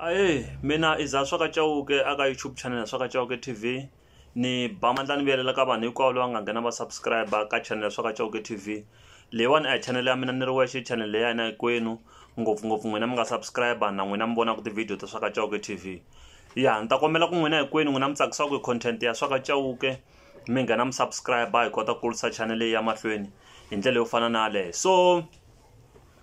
Ahee mina i za swa ka Chauke a ka YouTube channel swa ka Chauke T_V ni ba mandla ni vuyelela ka vanhu hinkwavo lava nga nghena va subscribe ka channel swa ka Chauke T_V leyiwani a hi channel ya mina ni ri wexe channel leyi ya hina hinkwenu ngopfungopfu n'wina mi nga subscribe na n'wina mi vonaka ti-video ta swa ka Chauke T_V ya ni ta kombela ku n'wina hinkwenu n'wina mi tsakisaka hi content ya swa ka Chauke mi nghena mi subscribe hi kota ku kurisa channel leyi ya mahlweni hi ndlela yo fana na yaleyo so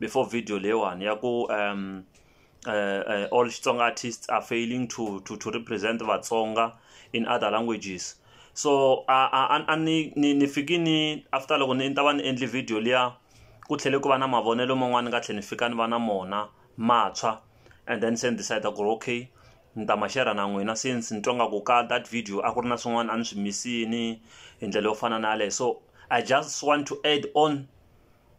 before video leyiwani ya ku um uh, uh, all Xitsonga artists are failing to, to, to represent Vatsonga in other languages. So ani ni ni fiki ni after loko ni ta va ni endli video liya ku tlhele ku va na mavonelo man'wana ni nga tlhela ni fika ni va na mona matshwa and then se ni decide ku ri okay ni ta ma share na n'wina since ni twa nga ku ka that video a ku ri na swin'wana a ni swi misini hi ndlela yo fana na yaleyo so i just want to add on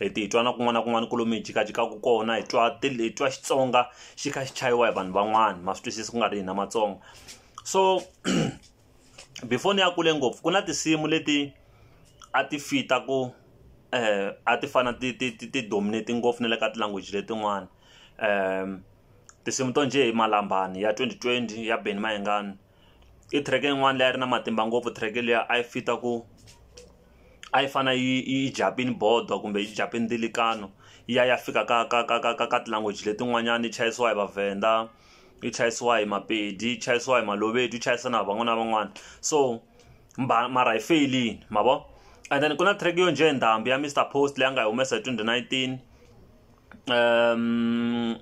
hi ti twa na kun'wana na kun'wana ku lomu hi jikajikaku kona hi twa hi twa xitsonga xi kha xi chayiwa hi vanhu van'wana ma swi twisisa ku nga ri hina matsonga so before ni ya kule ngopfu ku na tinsimu leti a ti fita ku um a ti fana ti ti ti ti dominate ngopfu na le ka ti-language letin'wana um tinsimu to njhe hi malambani ya twenty twenty ya Benny Mayengani. i track yin'wana leyi a ri na matimba ngopfu track liya a yi fita ku a yi fana yi yi japini bodo kumbe yi japini dilikano yi ya ya fika ka ka ka ka ka ka ti-language letin'wanyani yi chayisiwa hi vavhenda yi chayisiwa hi mapedi yi chayisiwa hi malobedu yi chayisa na hi van'wana na van'wana so mara hi feyilini ma vo and then ku na track yo njhe ndhambi ya Mister Post leyi a nga yi humesa hi twenty nineteen. um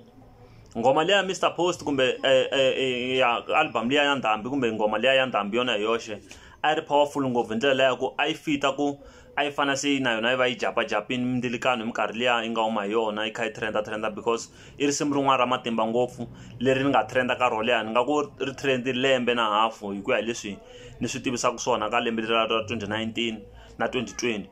ngoma leya mr post kumbe eh, eh, eh, ya album liya ya ndhambi kumbe ngoma liya ya ndhambi yona hi yoxe a yi ri powerful ngopfu hi ndlela leya ku a yi fita ku a yi fana se na yona yi va yi japajapini mindzilikano hi minkarhi liya yi nga huma hi yona yi kha yi trenda trenda because i risimu rin'wana ra matimba ngopfu leri ni nga trenda ka ro leha ni nga ku ri trend lembe na hafu hi ku ya hi leswi ni swi tivisaka swona ka lembe lera ra 2019 na 2020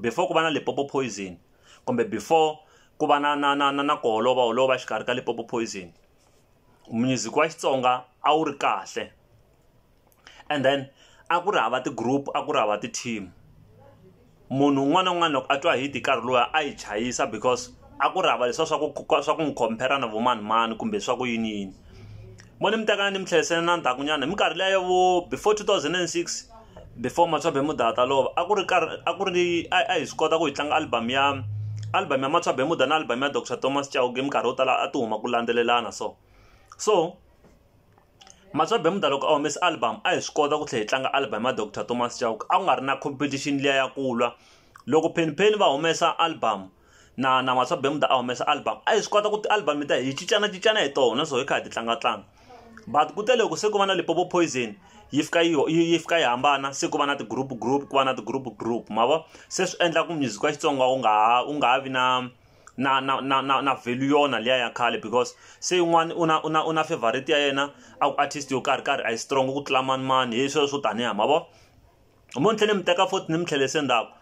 before ku va na lipopo poison kumbe before ku va na na na na na ku holova holova exikarhi ka lipopo poison music wa xitsonga a wu ri kahle and then a ku ri hava ti-group a ku ri hava ti-team munhu un'wana na un'wana loko a twa hit hi nkarhi luwa a yi chayisa because a ku ri hava leswiya swa ku swa ku n'wi compare na vo mani mani kumbe swa ku yini yini. mo ni mi tekana ni mi tlherisela na ndzhakunyana hi minkarhi leya vo before 2006 before matswabe muda ta lova a ku ri karhi a ku ri a hi swi kota ku hi tlanga album ya album ya matswabe muda na album ya dr thomas chauke minkarhi yo tala a ti huma ku landzelelana so so matswabe muda loko a humesa album a hi swi kota ku tlhela hi tlanga album ya dr thomas chauke a ku nga ri na competition liya ya kulwa loko phenpheni va humesa album na na Matswa Bermuda a humesa album a hi swi kota ku ti-album ta hi cincanacincana hi tona so hi kha hi ti tlangatlanga but ku te loko se ku va na lipopo poison yi fika yi yi fika yi hambana se ku va na ti-group group ku va na ti-group group ma vo se swi endla ku music wa xitsonga wu nga ha wu nga ha vi na na na na na na value yona liya ya khale because se yin'wana u na u na u na favorite ya yena a ku artist yo karhi karhi a yi strong ku tlula mani mani hi sweswo tanihi ma vo hi munhu tlhele mi teka foti ni mi tlhelese ndzhaku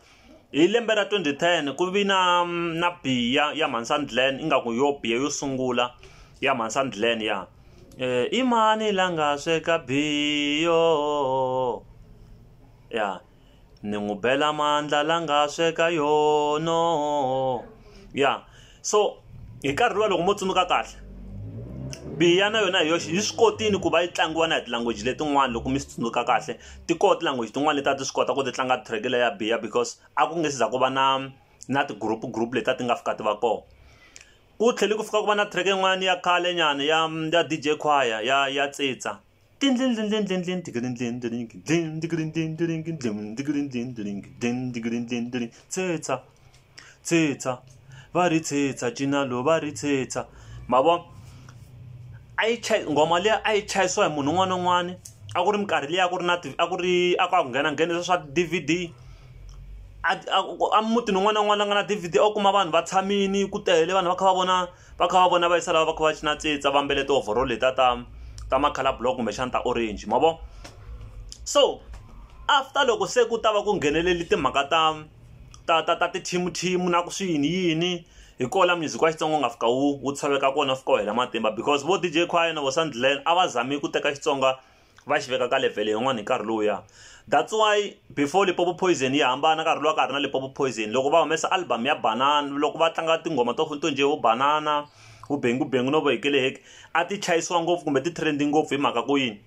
hi lembe ra 2010 ku vi na na biya ya Mansand Glen ingaku yo biya yo sungula ya Mansand Glen ya eh, imani la nga sweka biyo ya ni n'wi bela mandla la nga sweka yono ya so hi nkarhi luwa loko mo tsundzuka kahle biya na yona hi yoxe yi swi kotini ku va yi tlangiwa na hi tilanguage letin'wana loko mi swi tsundzuka kahle ti koho tilanguage tin'wana leti a ti swi kota ku ti tlanga track leya biya because a ku nge siza ku va na na ti-group group leti a ti nga fika ti va kona ku tlhele ku fika ku va na track yin'wana ya khale nyana ya ya DJ Choir ya ya tsitsa tsetsa tsetsa va ri tsetsa cinalo va ri tsetsa ma vona a yi chaya nghoma liya a yi chayisiwa hi munhu un'wana na un'wana a ku ri minkarhi liya a ku ri na a ku ri a ku a ku nghena nghena leswa swa ti-D_V_D a a mutini un'wana na un'wana la nga na D_V_D a wu kuma vanhu va tshamile ku tele vanhu va kha va vona va kha va vona va yisa lava va kha va cina tsitsa va mbele ti-overall letiya ta ta ma-colour block kumbexana ta orange ma vo so after loko se ku ta va ku ngheneleli timhaka ta ta ta ta ti-team-team na ku swi yini yini hi ko la music wa xitsonga u nga fika wu wu tshoveka kona fika wu hela matimba because vo DJ Khwayana vo Sandland a va zami ku teka Xitsonga va xi veka ka level yin'wana hi nkarhi lowuya that's why before lipopo poison yi hambana nkarhi lowa ka ha ri na lipopo poison loko va humesa album ya banana loko va tlanga tinghoma to to njhe vo banana vubengubengu no vohekeleheke a ti chayisiwa ngopfu kumbe ti trendi ngopfu hi mhaka ku yini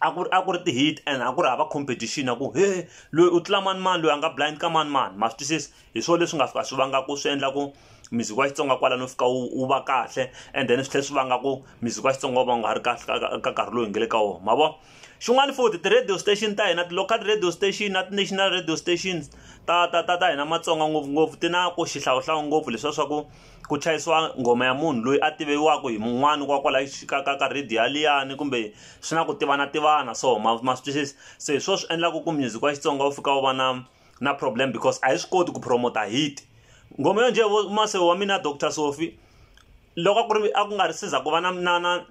a ku ri a ku ri ti-hit and a ku ri hava competition a ku he loyi u tlula manimani loyi a nga blind ka manimani ma swi twisisa hi swona leswi nga fika swi vanga ku swi endla ku muziki wa xitsonga kwala no fika wu va kahle and then swi tlhela swi vanga ku muziki wa xitsonga wu va nga ha ri kahle ka nkarhi lowu hi nge le ka wona ma vo xin'wana futhi ti-radio station ta hina ti-local radio station na ti-national radio stations ta ta ta ta hina matsonga ngopfungopfu ti na ku xihlawuhlawu ngopfu leswiya swa ku ku chayisiwa nghoma ya munhu loyi a tiviwaka hi mun'wani wa kwala ka ka ka radio yaliyani kumbe swi na ku tivana tivana so ma ma swi twisisa se hi swo swi endlaka ku music wa xitsonga wu fika wu va na na problem because a yi swi koti ku promota hit ngoma yo njhe mase wa mina dr sofi loko a ku ri a ku nga ri siza ku va na na na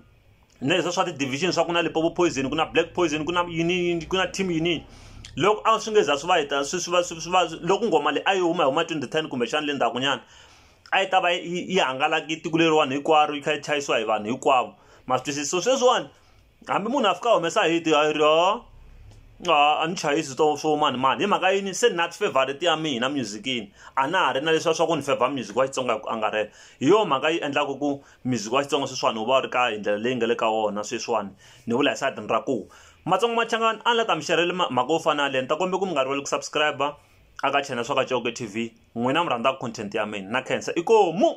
na leswa swa ti-division swa ku na lipopo poison ku na black poison ku na yini ku na team yini loko a swi nge za swi va hita swi swi va swi va loko nghoma leyi a yi huma hi huma twenty ten kumbexana le ndzhakunyana a yi ta va yi hangalaki tiko leriwani hinkwaro yi kha yi chayisiwa hi vanhu hinkwavo ma swi twisisa so sweswiwani hambi munhu a fika a humesa hit a ri o a ni chayisi swo swo mani mani hi mhaka yini se nat favorite ya mina musicini a na ha ri na leswiya swa ku ni favor music wa xitsonga hi ku angarhela hi yona mhaka yi endlaka ku music wa xitsonga sweswiwani wu va wu ri ka hi ndlela leyi nga le ka wona sweswiwani ni vula hi sayitini ra ku matsongo machangani a ni la ta mi xerhele mhaka yo fana yaleyo ni ta kombe ku mi nga rivali ku subscribe aka channel swa ka coke tv n'wina mi rhandzaku content ya mina na khensa i komu